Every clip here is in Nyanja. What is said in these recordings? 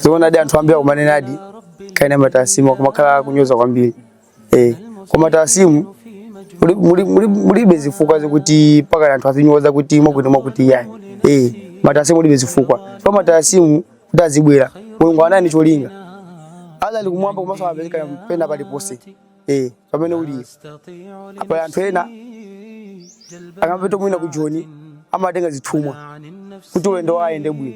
zoonadi anthu ambiri akumanenadi kuti ma tarasimu akumakhala akunyoza kwambiri eh koma tarasimu mulibe zifukwa zokuti paka anthu azinyoza kuti mwakuti mwakuti yayi eh m'matarasimu mulibe zifukwa matarasimu kuti azibwera mulungu anali ndi cholinga ali ndi kumwamba komanso amapezeka pena paliponse eh pamene uli apa anthu ena akamapita mwina ku joni amatenga zithumwa kuti ulendo wawo ayende bwino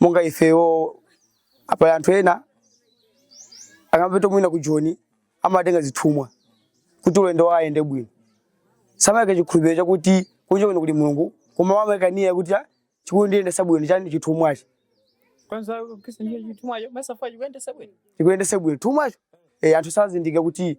monga ifeyo apa anthu ena akamapita mwina ku joni amatenga zithumwa kuti ulendo wawo ayende bwino samayika chikhulupiriro chakuti kunja kuno kuli mulungu koma amayika nia kuti "Ah, chikundiyendetsa bwino chani chithumwachi kwanza kisa nje chithumwacho masa fa chikuyendetsa bwino chikuyendetse bwino thumwacho eh, anthu sazindikira kuti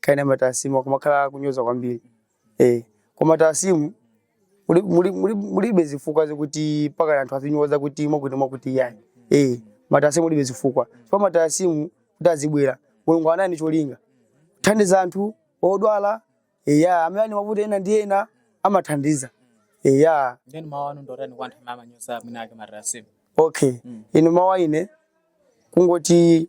kuti matarasimu akumakhala akunyoza kwambiri eh koma tarasimu muli- muli- muli- mulibe zifukwa zokuti pakana anthu azinyoza kuti mwakuti mwakuti iyayi eh m'matarasimu mulibe zifukwa chifukwa matarasimu kuti azibwera mulungu anali ndi cholinga kuthandiza anthu odwala eya amene ali ndi mavuto ena ndi ena amathandiza eya ndiyeno mawu anu ndi otani kwa anthu amene amanyoza mwina ake matarasimu okay ine mawu anga ine kungoti